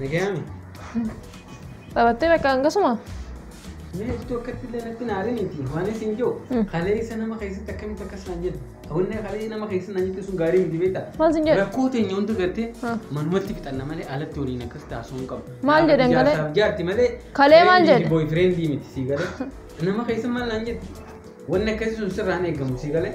Nagayaami. Taphattee bakka hangasuma? Mee jirtu akkatti illee natti naariniiti. Waan isin jiru. Mm. Kaleessa nama keessatti akkamitti akkas naan jedhu. Hawwanni kalee nama keessatti naan jettu sun gaarii miti beektaa? Maal sin jedhu? Rakkoo teenya hunda gartee Ah. manumatti fixanna malee alatti waliin akkas taasisuu hin qabu. Maal jedhan Jaarsaaf kalee? Jaarti malee. Kalee maal jedhe? Boy friendii miti sii galee. Nama keessa maal naan jettu? Wanni akkasii sun sirraa hin eegamu sii galee.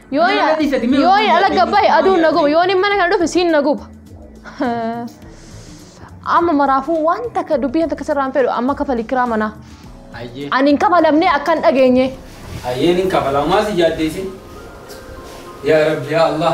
Yoo Mana na- dhiisati mee yoo hojii ala hojii gabbaa'e hojii aduun na hojii. guba yoo inni mana kana dhufe siin na guba. Amma maraafuu waan takka dubbii takka sirraan fedhu amma kafali kiraa manaa. Ayyee. Ani hin kafalamne akka hin dhageenye. Ayyeen hin kafalamaa si yaaddeessin. Yaa Rabbi yaa Allah.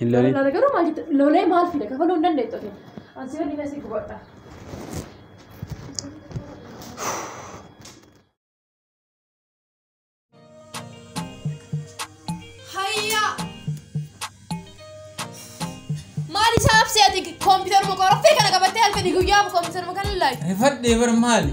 Hin lolin. Lola garuu maal jette? Lolee maal fida? Kafaluu hin dandeettu ati. Ansi waliin asii gubadha. Hayyaa! Maal isaa absee ati kompiitaruma qoraftee kana qabattee halkanii guyyaa kompiitaruma kana ilaalte? Rifadhee bar maali?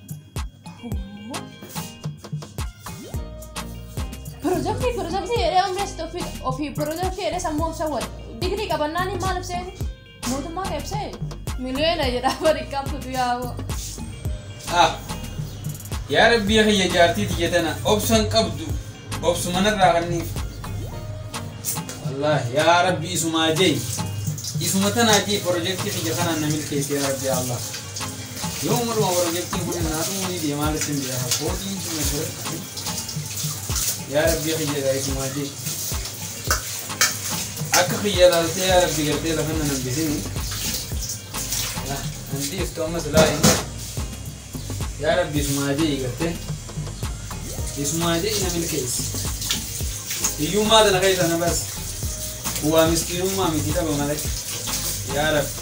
Pirojektii pirojektii jedhee umrii asitti ofii ofii pirojektii jedhee sammuu of sawwate. Digirii qabannaan maal ibsee mootummaa kan ibsee miliyoona jedhaa bari qabdu yaa'oo. Ah, yaa rabbii kiyya jaartii tiyya tana obsan qabdu Obsuma narraa kanniif. Wallahi yaa rabbi isumaa jay isuma tanaa jay projektii kiyya kanaan na milkeessi yaa rabbi yaa allah yooma dhuma projektiin kun naa dhumuu ni deema haala isin beeka koodii isuma jira yaa rabbi kiyya gaa isumaa jay akka kiyya laaltee yaa rabbi gartee lafa na nambisini Nah, nanti itu amat lain Yaa rabbi isumaa je'i garte isumaa je'i na milkeessi hiyyummaa tana keessa na basi bu'aa miskiinummaa miti dhaba malee yaa rabbi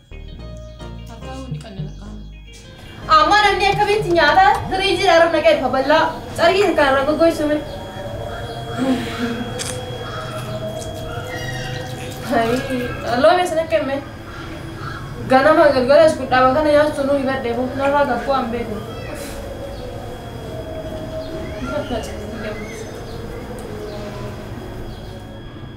Amma namni akkamitti nyaata firiijii irraa rafna qeerfa bal'aa carqii kan irraa goggoisume. Loome sana kenne ganama galgala as guddaa bakana nyaachuu nuu ibadde fuuf narraa gaffuu an beeku. Thank you.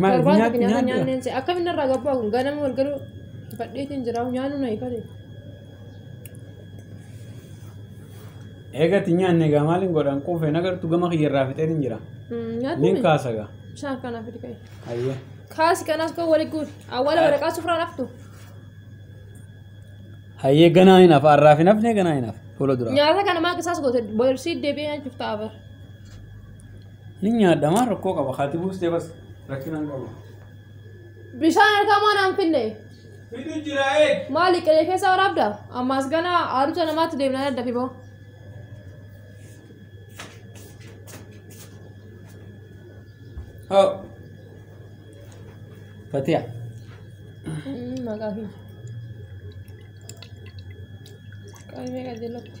Maal Torbaata nyaat- finyaata nyaadhu? nyaanneen se'a. Akkam inni irraa gabbaa kun ganama wal galuu fadhiitiin jira nyaanuu na ifate. Eegatti nyaanne egaa maaliin godhan quufee nagartu gama kiyya irraa fixeen hin jira. Nin Nyaatni kaasa egaa. bishaan kanaaf fidi ka'e. Hayyee. Kaasi kanas koo wali guuri. Awwaala waraqaa sufraan haftu. Hayyee ganaa hin hafa har'aaf hin hafne ganaa hin hafa fuula duraa. Nyaata kana maal isaas goote boorsiit deebi'ee nyaachuuf ta'a bara. Ni nyaadha maa rakkoo qaba haati buustee bas rakkina hin qabu. Bishaan harkaa maan aan finne? Fidu jira eeg. Maali qe'ee keessa waraabda? Ammaas gana aaruuta namaatti deemna adda fiboo. Hoo. Fatiya. Maqaa fi. Qaamee qajeelatti.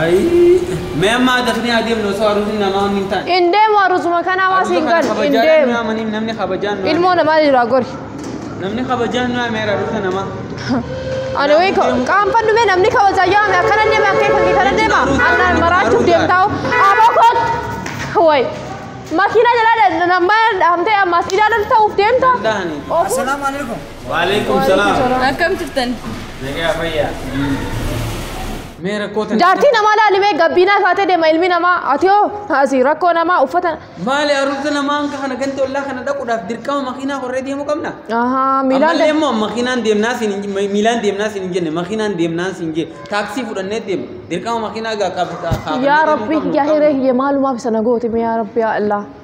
Ayii. Mee amma adafnee adeemnu osoo aruusin namaa wanni hin taane. Hin deemu arusuma kana hamaa Aruusa siin kana galu. Hin kabajaadhaan nu deemu. yaamaniif namni kabajaan nu Ilmoo yaame. namaa jiraa gori. Namni kabajaan nu yaameera aruusa namaa. Ani wayii ka- qaanfan dhume namni kabajaa yaame akkana deema akkee kan kana deema. Annaan maraachuuf deemtaa aboo koot. Wayi. Makiinaa jalaa dha- namaa dhahamtee ammaas ilaalan ta'uuf deemta. Danda'anii. Ofuu- Assalamu alaikum. Waalaikum salaam. Akkam jirtan? Nagaa fayyaa. Mee rakkoo tana. Jaartii namaa laalimee gabbiinaa taatee deema ilmi namaa ati hoo asi rakkoo namaa uffata. Maali arrabsa namaan kana ganda ollaa kana dhaquudhaaf dirqama makiinaa korree deemuu qabna. Ahaa miilaan Ammallee immoo makiinaan deemnaa siin hin miilaan deemnaa siin hin jenne makiinaan deemnaa siin jenne taaksii fudhannee deemna dirqama makiinaa gaa qabata. Yaa Rabbi yaa hiree kiyya maalumaaf sana gooti mee yaa Rabbi yaa Allah.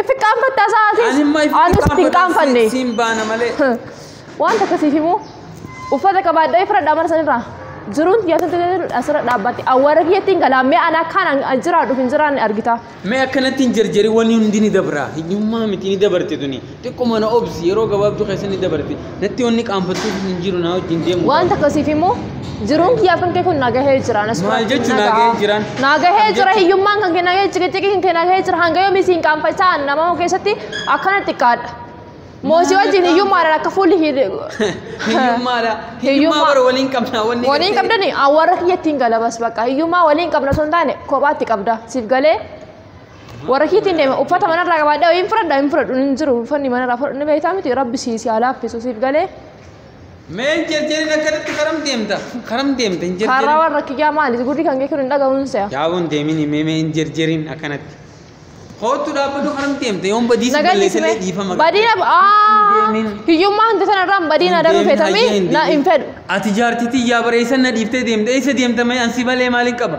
If qaanfatte asaa Ani asis. imma if Anis hin qaanfanne. qaanfadha siin baana malee. Wanta akkasiif immoo uffata qabaadhaa ifra dhaamar sanirraa jiruun kiyya asirratti asirra dhaabbatti awwaara kiyyatti hin galaa mee ana akkaan an- an jiraadhuuf hin jiraanne argita. Mee akkanatti hin jarjari wanni hundi ni dabra. Hiyyummaa miti ni dabarte tuni. Xiqquma na obsi yeroo gabaabduu keessa ni dabarti. Natti wanni qaanfattuu hin jiru naa wajjin deemu. Waan takka siif immoo jiruun kiyyaa kan kee kun nagahee jira. Anas Maal Firaat, jechuun nagahaa. nagahee jiran? Nagahee Maal jira jechuun? hiyyummaan kan kee nagahee ciqiciqii kan kee nagahee jira hanga yoomii siin qaanfachaa nama keessatti akkana xiqqaadha. Moosii wajjin hiyyummaadhaan akka fuulli hidhe. Hiyyummaadha. Hiyyummaa Hiyyummaa. bara waliin qabna. Wanni Waliin gartee- qabdani awwaarra kiyyattiin galabas bakka hiyyummaa waliin qabna osoo hin taane kophaatti qabda siif galee Warra kiitiin deema uffata manarraa qabaadhaa hin fudhadhaa hin fudhadhu hin jiru uffanni manarraa fudhadhu ni beektaa miti rabbi sii si alaaffisu siif galee Mee hin jerjerin akkanatti karam deemta? Karam deemta hin karaa jerjerin. warra kiyyaa maali gurri kan kee kun hin dhaga'uun se'a. Yaabon deemin mee mee hin jerjerin akkanatti. Koottu dhaabbadhu karam deemta yoon badiisa Nagaa balleessallee dhiisime. dhiifama. Badiina aa Deemin. hiyyummaa hunda sana irraan badiina Hin daruu deemin, feetamii hayyee hin na deemin. hin fedhu. Ati jaartitii yaa bareessan na dhiiftee deemta eessa deemta mee ansi malee maaliin qaba?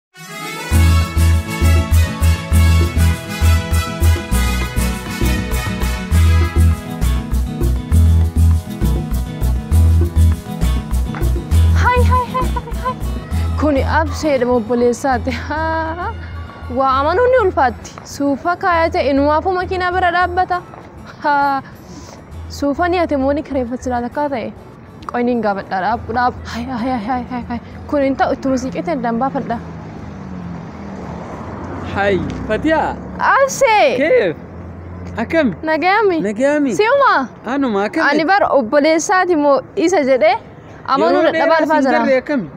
Hay hay hay hay hay. Kuni abseedha obboleessaati. Haa. Waa amanuun ni ulfaatti. Suufa kaayate inumaafuu makiinaa bira dhaabbata. Haa. Suufa ni ati immoo ni kireeffatti laata akkaa ta'e. Qoy niin gaafadha dhaab dhaab hay hay hay hay hay kun hin ta'u ittuma siiqeetti addaan baafadha. Hay Fatiyaa Absee keef akkami nagayami nagaami si'uma anuma ani akkami bar obboleessaati moo isa jedhee amanuu dadhabaa dhufaa jira. garree akkami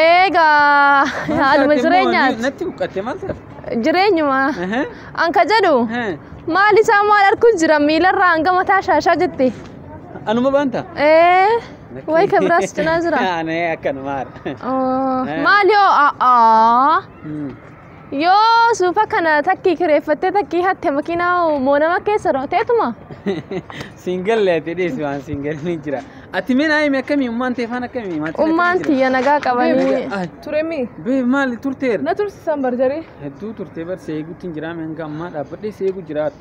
Eegaa haaluma jireenyaati natti huqqatte maal taate jireenyuma Aha, an ka jedhu aha. maal isaa maal arguu jira miilarraa hanga mataa shaashaa jette. Anuma banta. Ee, way ka biraas cinaa jira. Ani akkanuma haadha. Oh, Eh. Maali yoo a'aa Hmm. yoo suufa kana takkii kireeffattee takkii hatte makiinaa moo nama keessa rooteetuma. Siin galle ati dhiisi waan siin galle ni jira. Ati mee naa himi akkamii ummaan tee faan akkamii maatiin akkamii Ummaan jira? tiyya nagaa qabanii. Ay, Turemi. Bee maali turteera? Na tursisan barjarii. Hedduu turtee bar seeguutti hin jiraame hanga ammaa dhaabbadhee seeguu jiraata.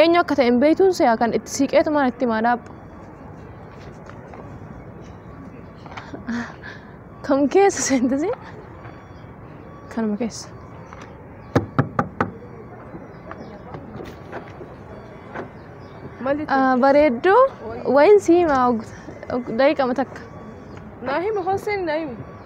Eenyu akka ta'e hin beektuun se'a kan itti siiqeetumaan itti himaa dhaabbu. Kam keessa seentasi? Kanuma keessa. Mali Ah, Bareedduu wayiin si himaa daqiiqama takka. naa himu hosseen naa himu.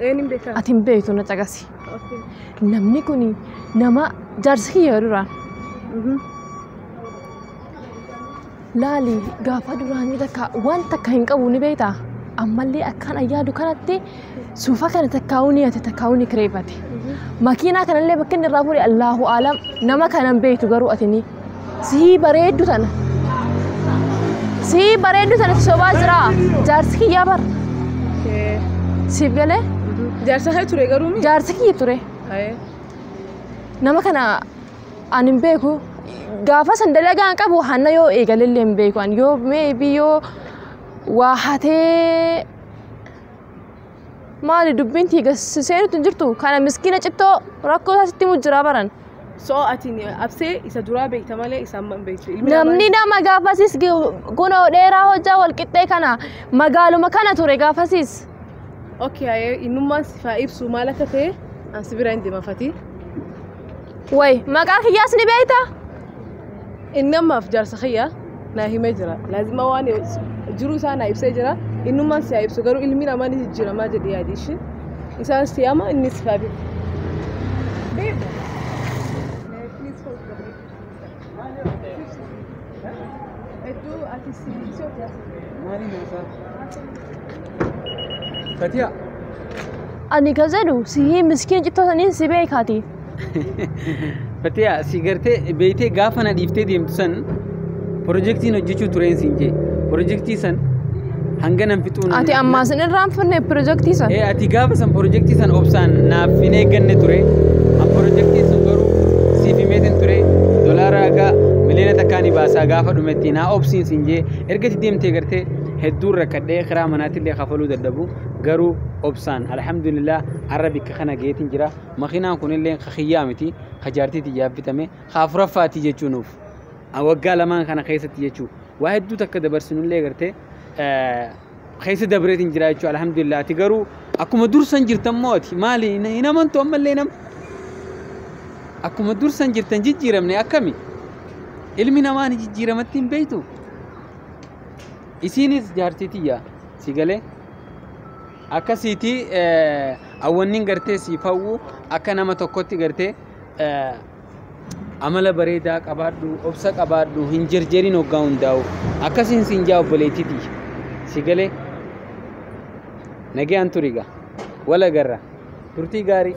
Eenyuun beekaa? ati hin beektu na caqasi Okay. namni kun nama jaarsa kiyya duraan Mhm. laali gaafa duraanii takka waan takka hin qabu ni beekta ammallee akkaan ayyaadu kanatti suufa kana takkaa'uu ni hate takkaa'uu ni kireeffate makiinaa kanallee bakka inni irraa fuudhe allaahu aalam nama kana hin beektu garuu ati ni Sii bareeddu tana. Sii bareeddu tana sobaa jira. Jaarsi kiyyaa bar. Siif galee Jaarsa kee ture garuu mi? jaarsi kiyya ture. Nama kana ani hin beeku. Gaafa san dalagaa hin qabu hanna yoo eegalellee hin beeku. Ani yoo meebii yoo waa hatee maali dubbiin tiiga seenutti hin jirtu. Kana miskiina cittoo rakkoo isaa sitti himu jira baran. So ati absee isa duraa beekta malee isa amma hin beektu. Ilmi namaa- Namni nama gaafasis kunoo dheeraa hojjaa walqixxee kana magaaluma kana ture gaafasis. Okay, ayee innummaan si faa ibsu maal akka ta'e an si bira hin deema fatii. Way maqaa kiyyaas ni beekta? Inni ammaaf jaarsa kiyya naa himee jira. Laazima waan jiruu isaa naa ibsee jira. Innummaan si haa ibsu garuu ilmi namaa ni jijjiiramaa jedhi yaadi ishee. Isaan si ama inni si haa beeku. Fatiyaa. Ani ka jedhu sihii miskiin cittoo saniin si beekaati. Fatiyaa si gartee beeytee gaafa na dhiiftee deemtu san pirojektiin hojjechuu tureen siin jee pirojektii san hanga nan fixuu nan Ati ammaa sin irraan finne pirojektii san. Ee ati gaafa san pirojektii san obsaan naaf hin eegganne ture an pirojektiin sun garuu siif himeetin ture dolaara haga miliyoona takkaa ni baasaa gaafa dhumetti naa obsiin siin jee ergati deemtee gartee hedduun rakkadhee kiraa manaatillee kafaluu dadhabu garuu obsaan alhamdulillah arra bikka kana geetin jira Makiinaan kunillee ka kiyyaa miti, ka jaartii tiyyaaf bitame, ka afuraffaati jechuu nuuf. Waggaa lamaan kana keessatti jechuu waa hedduu takka dabarsinullee gartee keessa dabreetiin jira jechuu alhamdulillah ati garuu akkuma dursan jirtan moo ati maali hin amantu ammallee nam akkuma dursan jirtan jijjiiramne akkami ilmi namaa ni jijjiiramatti hin beektu isiinis jaartii tiyya si galee akkasiiti awwannin gartee siif hawwu akka nama tokkotti gartee amala bareedaa qabaadhu obsa qabaadhu hin jerjerin hoggaa hundaa'u akkasiin siin jaa obboleettiti si galee nagayaan turiga wala garra Turtii gaarii!